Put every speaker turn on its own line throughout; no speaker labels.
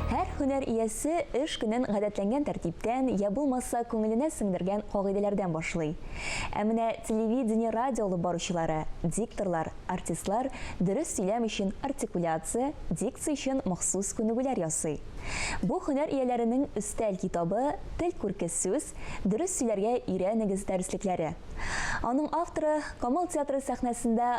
Һәр һөнәр иясе эш көнен гадәтләнгән тәртиптән, я булмаса, күңеленә сеңдергән кагыйдәләрдән башлый. Ә менә телевидение-радио алып баручылары, дикторлар, артистлар дөрес сөйләм өчен артикуляция, дикция өчен махсус күнегүләр ясый. Бу һөнәр ияләренең өстәл китабы Тел күрке сүз, дөрес сөйләргә өйрәнегез дәреслекләре. Аның авторы Камал театры сәхнәсендә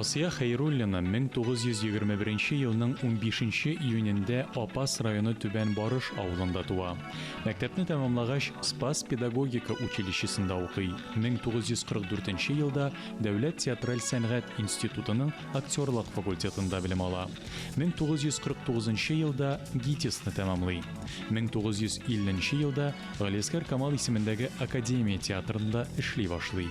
Асия Хәйруллина 1921 елның унбишенче июнендә Апас районы Түбән Барыш авылында туа. Мәктәпне тәмамлагач, Спас педагогика училищесында укый, 1944 елда Дәүләт театраль сәнгать институтының актерлык факультетында белем ала, 1949 елда ГИТИСны тәмамлый, 1950 елда Галиәсгар Камал исемендәге Академия театрында эшли башлый.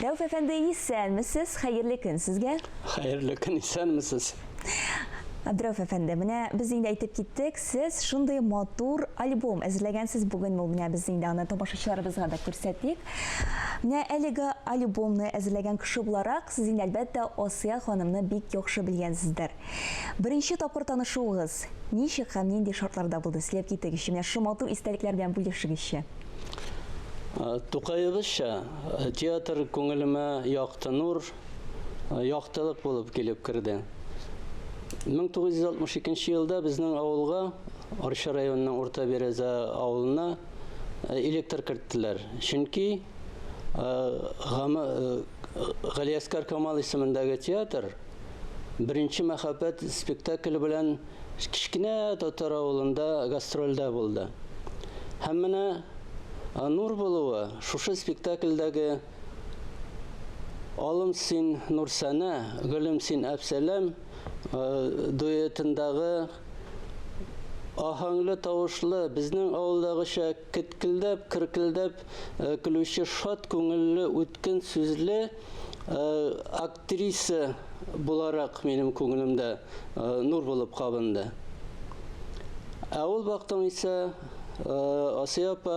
Рәүф әфәнде, исәнмесез, хәерле көн сезгә. Хәерле көн,
исәнмесез.
Абдрәүф әфәнде, менә без инде әйтеп киттек, сез шундый матур альбом әзерләгәнсез бүген, ул менә без инде аны тамашачыларыбызга да күрсәтик. Менә әлеге альбомны әзерләгән кеше буларак, сез инде әлбәттә Асия ханымны бик яхшы белгәнсездер. Беренче тапкыр танышуыгыз ничек һәм нинди шартларда булды? Сөйләп китегезче, менә шушы матур истәлекләр белән бүлешегезче.
Тукаебызча, театр күңелемә якты нур, яктылык булып килеп керде. 1962 елда безнең авылга, Арча районының Урта Береза авылына электр керттеләр. Чөнки Галиәскар Камал исемендәге театр Беренче мәхәббәт спектакле белән кечкенә татар авылында гастрольдә булды. Һәм менә Нур булуы шушы спектакльдәге Алым син, Нурсәнә, гөлем син, Әпсәләм дуэтындагы аһәңле тавышлы, безнең авылдагыча кеткелдәп, керкелдәп көлүче шат күңелле, үткен сүзле актер Актриса буларак минем күңелемдә нур булып кабынды. Ә ул вакытың исә Асия апа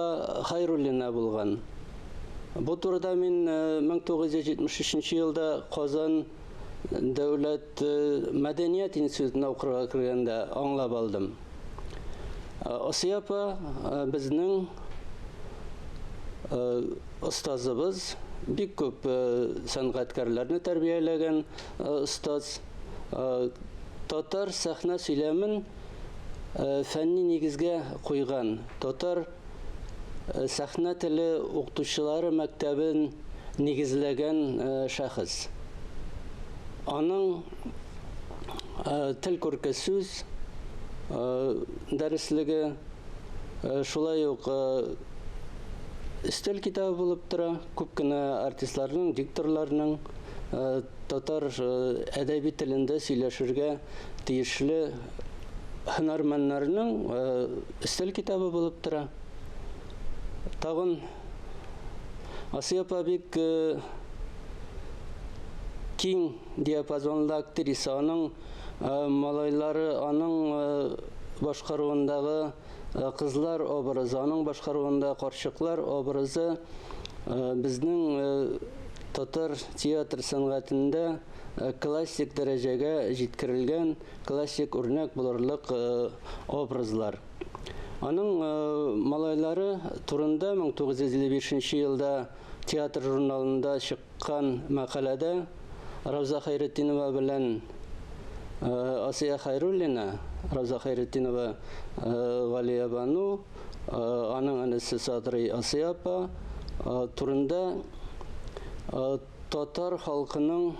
Хайруллина булган. Бу турыда мин 1973 елда Казан дәүләт мәдәният институтына укырга кергәндә аңлап алдым. Э, Асия апа э, безнең остазыбыз бик күп сәнгатькәрләрне тәрбияләгән остаз татар сәхнә сөйләмен фәнни нигезгә куйган татар Сәхнә теле укытучылары мәктәбен нигезләгән шәхес. Аның тел күрке сүз дәреслеге шулай ук өстәл китабы булып тора. Күп кенә артистларның, дикторларның татар әдәби телендә сөйләшергә тиешле һөнәрмәннәрнең Өстәл китабы булып тора. Тагын Асия апа бик э, киң диапазонлы актриса. Аның э, малайлары, аның э, башкаруындагы кызлар образы, аның башкаруында карчыклар образы безнең татар театр сәнгатендә классик дәрәҗәгә җиткерелгән Классик үрнәк булырлык образлар. Аның малайлары турында 1955 елда театр журналында чыккан мәкаләдә Равза Хәйретдинова белән Асия Хәйруллина, Равза Хәйретдинова Галиябану, аның энесе Садрый Асия апа турында Татар халкының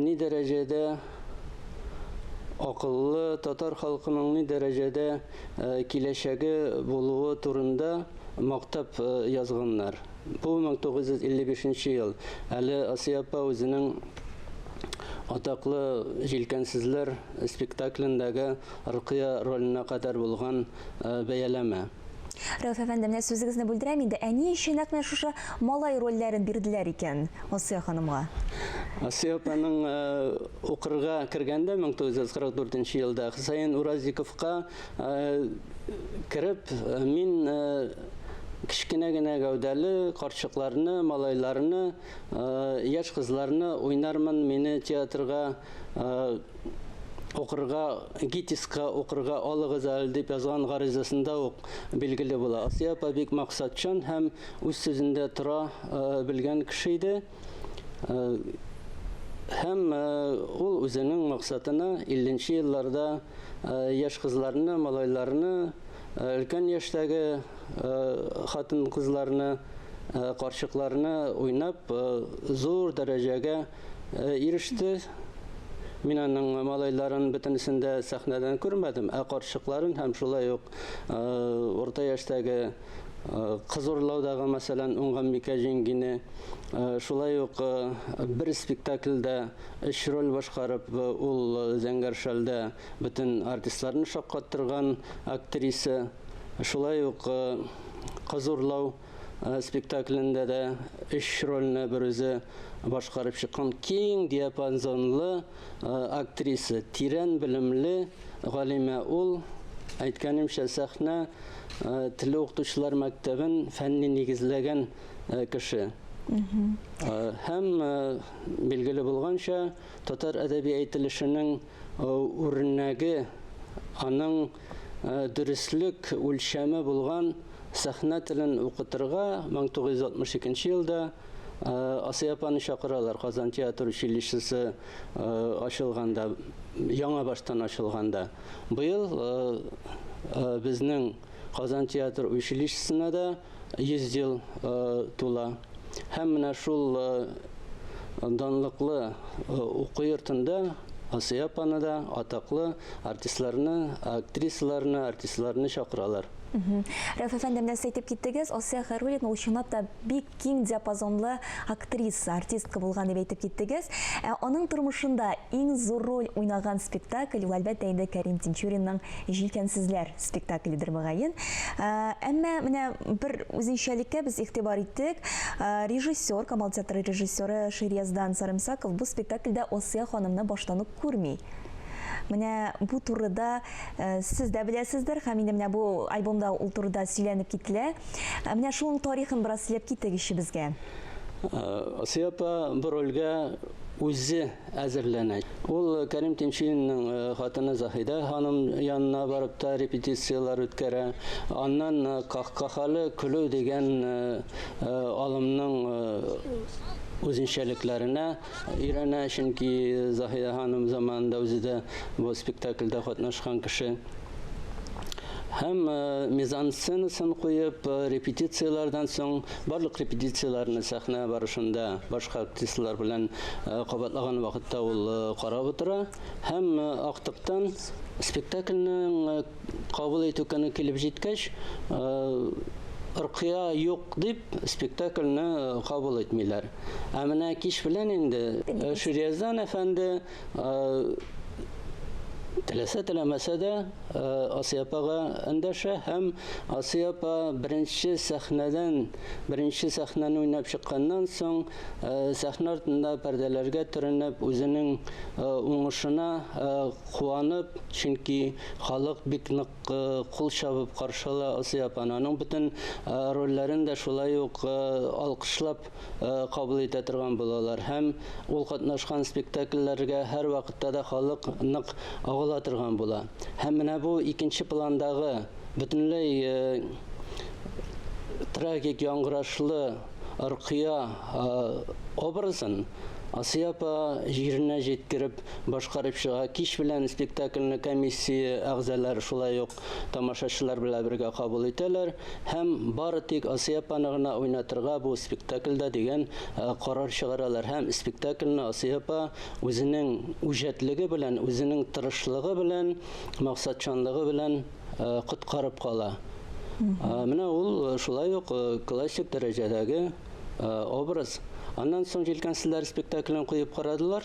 ни дәрәҗәдә акыллы, татар халкының ни дәрәҗәдә киләчәге булуы турында мактап язганнар. Бу 1955 нче ел. Әле Асия апа үзенең атаклы Җилкәнсезләр спектаклендәге Рокыя роленә кадәр булган бәяләмә. Рәүф
әфәнде, менә сүзегезне бүлдерәм инде, ә ни өчен нәкъ менә шушы малай рольләрен бирделәр икән Асия ханымга? Асия
апаның э, укырга кергәндә 1944 елда Хөсәен Уразиковка э, кереп, э, мин кечкенә генә гәүдәле карчыкларны, малайларны, яшь кызларны уйнармын, мине театрга укырга, ГИТИСка укырга алыгыз әле дип язган гаризасында ук билгеле була. Асия апа бик максатчан һәм үз сүзендә тора э, белгән кеше иде. Э, һәм э, ул үзенең максатына 50 елларда яшь кызларны, малайларны, өлкән яшьтәге хатын-кызларны, карчыкларны уйнап зур дәрәҗәгә иреште. Мин аның малайларын бөтенесен дә сәхнәдән күрмәдем, ә карчыкларын һәм шулай ук урта яшьтәге кыз урлаудагы, мәсәлән, Уңганбикә җиңгине, шулай ук бер спектакльдә өч роль башкарып, ул зәңгәр шәлдә бөтен артистларны шаккаттырган актриса, шулай ук кыз урлау спектаклендә дә өч рольне берүзе башкарып чыккан киң диапазонлы актриса, тирән белемле галимә ул. Әйткәнемчә, сәхнә теле укытучылар мәктәбен фәнни нигезләгән кеше. Һәм билгеле булганча, татар әдәби әйтелешенең үрнәге аның дөреслек үлчәме булган сәхнә телен укытырга 1962 елда Асый апаны чакыралар Казан театр училищесы ачылганда, яңа баштан ачылганда. Быел безнең Казан театр училищесына да 100 ел тула. Һәм менә шул данлыклы уку йортында Асия апаны да атаклы артистларны, актрисаларны, артистларны чакыралар. Рәф
әфәнде, менә сез әйтеп киттегез, Асия Хәруллина ул чынлап та бик киң диапазонлы актриса, артистка булган дип әйтеп киттегез. Ә аның тормышында иң зур роль уйнаган спектакль ул әлбәттә инде Кәрим Тинчуринның Җилкәнсезләр спектакльдер мөгаен. Э, әмма менә бер үзенчәлеккә без игътибар иттек. Э, режиссер, Камал театры режиссеры Ширияздан Сарымсаков бу спектакльдә Осия ханымны баштан ук күрми. Менә бу турыда э, сез дә беләсездер, һәм инде менә бу альбомда ул турыда сөйләнеп кителә. Менә шуның тарихын бераз сөйләп китегезче безгә.
Осия апа бу рольгә үзе әзерләнә. Ул Кәрим Тинчуринның хатыны Заһидә ханым янына барып та репетицияләр үткәрә. Аннан Кахкахалы көлү дигән алымның үзенчәлекләренә өйрәнә, чөнки Заһидә ханым заманында үзе дә бу спектакльдә катнашкан кеше. Һәм мизансценасын куеп, репетицияләрдән соң Барлык репетицияләрне сәхнә барышында башка артистлар белән кабатлаган вакытта ул карап утыра һәм актыктан спектакльнең кабул итү көне килеп җиткәч, Ркыя юк дип, спектакльне кабул итмиләр. Ә менә кич белән инде Ширияздан әфәнде Теләсә теләмәсә дә Асия апага эндәшә һәм Асия апа беренче сәхнәдән, беренче сәхнәне уйнап чыкканнан соң, сәхнә артында пәрдәләргә төренеп, үзенең уңышына куанып, чөнки халык бик нык кул чабып каршы ала Асия апаны. Аның бөтен рольләрен дә шулай ук алкышлап кабул итә торган булалар һәм ул катнашкан спектакльләргә һәрвакытта да халык нык агыла торган була. Һәм менә бу икенче пландагы бөтенләй трагик яңгырашлы Аркыя образын Асия апа җиренә җиткереп башкарып чыга. Кич белән спектакльне комиссия әгъзалары шулай ук тамашачылар белән бергә кабул итәләр һәм бары тик Асия апаны гына уйнатырга бу спектакльдә дигән карар чыгаралар һәм спектакльне Асия апа үзенең үҗәтлеге белән, үзенең тырышлыгы белән, максатчанлыгы белән коткарып кала. Менә ул шулай ук классик дәрәҗәдәге образ. Аннан соң җилкәнсезләр спектаклен куеп карадылар.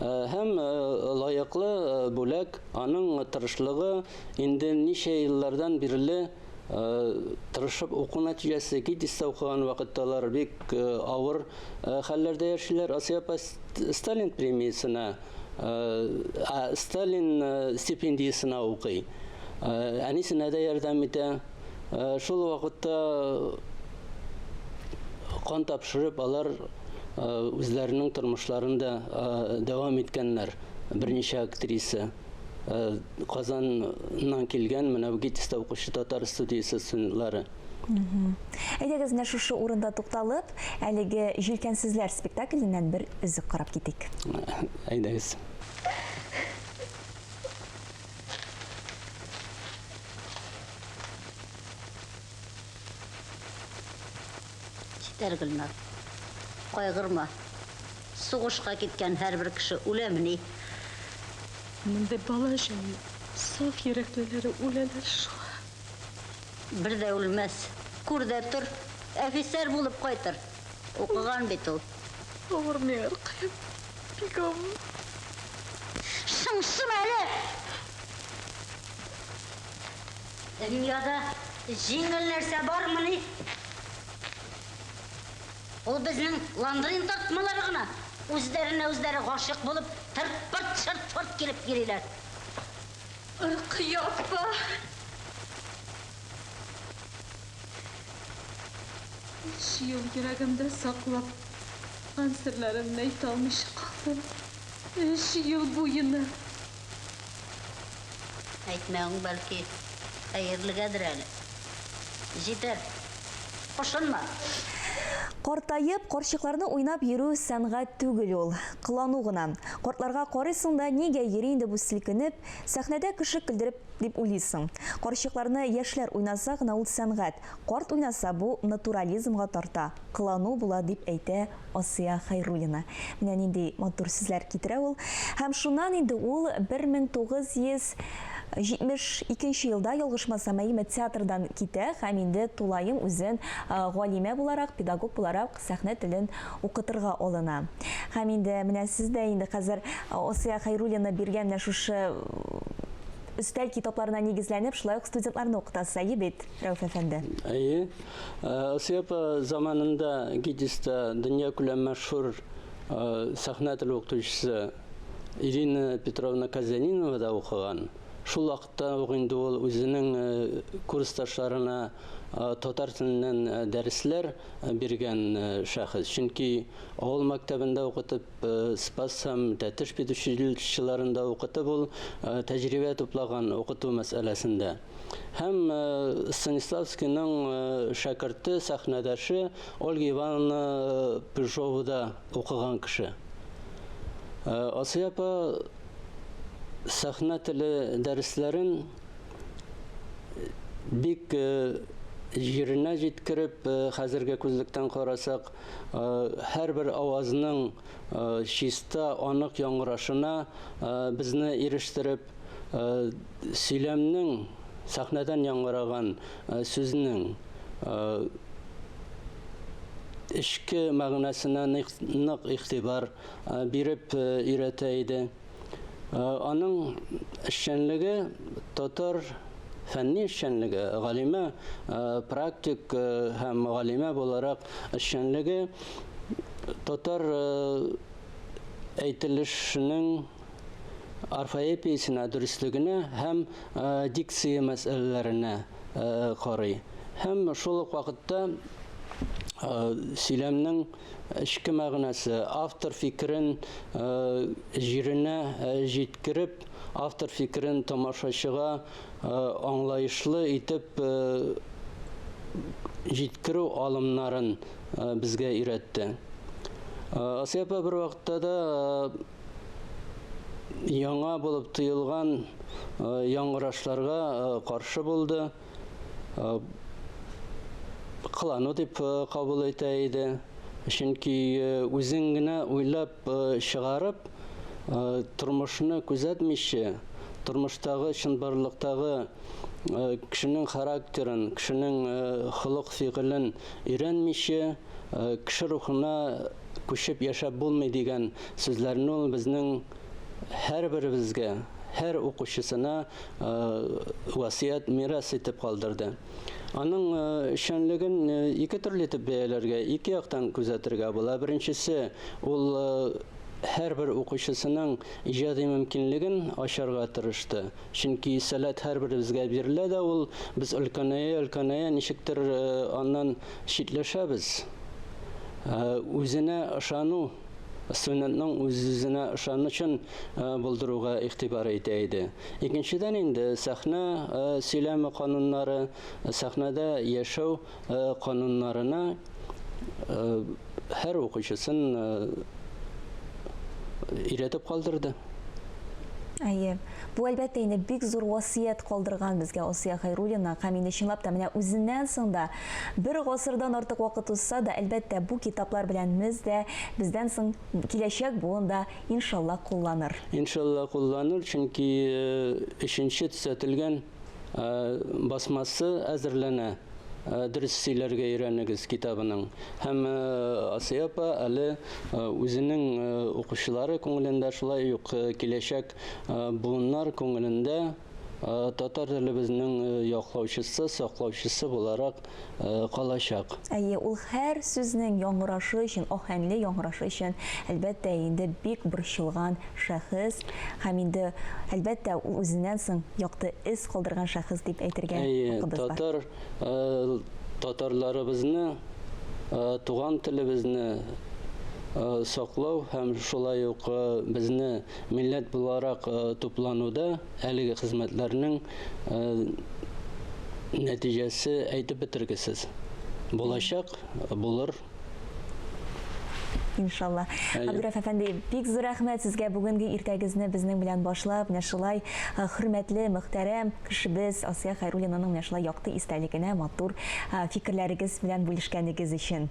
һәм лаеклы бүләк аның тырышлыгы инде ничә еллардан бирле тырышып уку нәтиҗәсе гидистә укыган вакытталар бик авыр хәлләрдә яшиләр асия сталин премиясенә сталин стипендиясенә укый әнисенә дә ярдәм итә Э, шул вакытта кан тапшырып алар э, үзләренең тормышларын да э, дәвам иткәннәр берничә актриса казаннан килгән менә гитиста укучы татар студиясе студентлары
әйдәгез менә шушы урында тукталып әлеге җилкәнсезләр спектакленнән бер өзек карап китик әйдәгез
Җитәр, Гөлнар. Кайгырма. Сугышка киткән һәрбер кеше үләмени?
Мондый бала өчен саф йөрәклеләре үләләр шул.
Бер дә үлмәс. Күр дә тор, әфисәр булып кайтыр. Укыган бит ул. Авырмый,
аркаем. Бигом. Шыңшыма
әле! Дөньяда җиңел нәрсә бармыни? Ул безнең ландрин тартмалары гына. Үзләренә-үзләре гашыйк булып, тырпырт-шыртпырт килеп йөриләр.
Ркыя апа! Өч ел йөрәгемдә саклап кан серләремне әйтә алмыйча калдым. Өч ел буена.
Әйтмәвең, бәлки, хәерлегәдер әле. Җитәр. Кушынма.
Картаеп, карчыкларны уйнап йөрү сәнгать түгел ул, кылану гына. Картларга карыйсың да, нигә йөри инде бу селкенеп, сәхнәдә кеше көлдереп Дип уйлыйсың. Карчыкларны яшьләр уйнаса гына ул сәнгать, карт уйнаса бу натурализмга тарта, кылану була, дип әйтә Асия Хәйруллина. Менә нинди матур сүзләр китерә ул. Һәм шуннан инде ул 1972 нче елда, ялгышмасам, Әйме театрдан китә һәм инде тулаем үзен галимә буларак, педагог буларак сәхнә телен укытырга алына. Һәм инде менә сез дә инде хәзер Асия Хәйруллина биргән менә шушы өстәл китапларына нигезләнеп, шулай ук студентларны укытасыз, әйе бит, Рәүф әфәнде? Әйе.
Асия апа заманында ГИТИСта дөньякүләм мәшһүр сәхнә теле укытучысы Ирина Петровна Казянинова да укыган. Шул вакытта ук инде ул үзенең курсташларына татар теленнән дәресләр биргән шәхес. Чөнки авыл мәктәбендә укытып, Спас һәм Тәтеш педучилищеларында укытып ул тәҗрибә туплаган укыту мәсьәләсендә. Һәм Станиславскийның шәкерте, сәхнәдәше Ольга Ивановна Пыжова да укыган кеше. Асия апа сәхнә теле дәресләрен бик җиренә җиткереп, хәзерге күзлектән карасак, һәрбер авазның чиста, анык яңгырашына безне ирештереп, сөйләмнең сәхнәдән яңгыраган сүзнең эчке мәгънәсенә нык игътибар биреп өйрәтә иде. Аның эшчәнлеге татар фәнни эшчәнлеге, галимә практик һәм галимә буларак эшчәнлеге татар әйтелешенең орфоэпиясенә, дөреслегенә һәм дикция мәсьәләләренә карый һәм шул ук вакытта сөйләмнең эчке мәгънәсе, автор фикерен җиренә җиткереп, автор фикерен тамашачыга аңлаешлы итеп җиткерү алымнарын безгә өйрәтте. Асия апа бервакытта да яңа булып тоелган яңгырашларга каршы булды. кылану дип кабул итә иде. Чөнки үзең генә уйлап чыгарып, тормышны күзәтмичә, тормыштагы чынбарлыктагы кешенең характерын, кешенең холык-фигылен өйрәнмичә, кеше рухына күчеп яшәп булмый дигән сүзләрне ул безнең һәрберебезгә, һәр укучысына васыять, мирас итеп калдырды. Аның эшчәнлеген ике төрле итеп бәяләргә, ике яктан күзәтергә була. Беренчесе, ул һәрбер укучысының иҗади мөмкинлеген ачарга тырышты. Чөнки сәләт һәрберебезгә бирелә дә ул, без өлкәнәя-өлкәнәя ничектер аннан читләшәбез. Үзенә ышану студентның үз-үзенә ышанычын булдыруга игътибар итә иде. Икенчедән инде сәхнә сөйләме кануннары, сәхнәдә яшәү кануннарына һәр укучысын өйрәтеп калдырды.
Әйе. Бу әлбәттә инде бик зур васыять калдырган безгә Асия Хәйруллина һәм инде чынлап та менә үзеннән соң да Бер гасырдан артык вакыт узса да, әлбәттә, бу китаплар белән мез дә, бездән соң киләчәк буын да, иншалла, кулланыр. Иншалла, кулланыр,
чөнки өченче төзәтелгән басмасы әзерләнә, Дөрес сөйләргә өйрәнегез китабының. Һәм Асия апа әле үзенең укучылары күңелендә, шулай ук киләчәк буыннар күңелендә Татар телебезнең яклаучысы, саклаучысы буларак калачак. Әйе, ул
һәр сүзнең яңгырашы өчен, аһәңле яңгырашы өчен, әлбәттә, инде бик борчылган шәхес һәм инде, әлбәттә, ул үзеннән соң якты эз калдырган шәхес дип әйтергә хакыбыз бар. Татар татарларыбызны,
туган телебезне саклау һәм шулай ук безне Милләт буларак туплануда әлеге хезмәтләрнең нәтиҗәсе әйтеп бетергесез. Булачак булыр
иншалла. Абдурәф әфәнди, бик зур рәхмәт сезгә бүгенге иртәгезне безнең белән башлап, менә шулай э, хөрмәтле, мөхтәрәм кешебез Асия Хайруллинаның менә шулай якты истәлегенә матур э, фикерләрегез белән бүлешкәнегез өчен.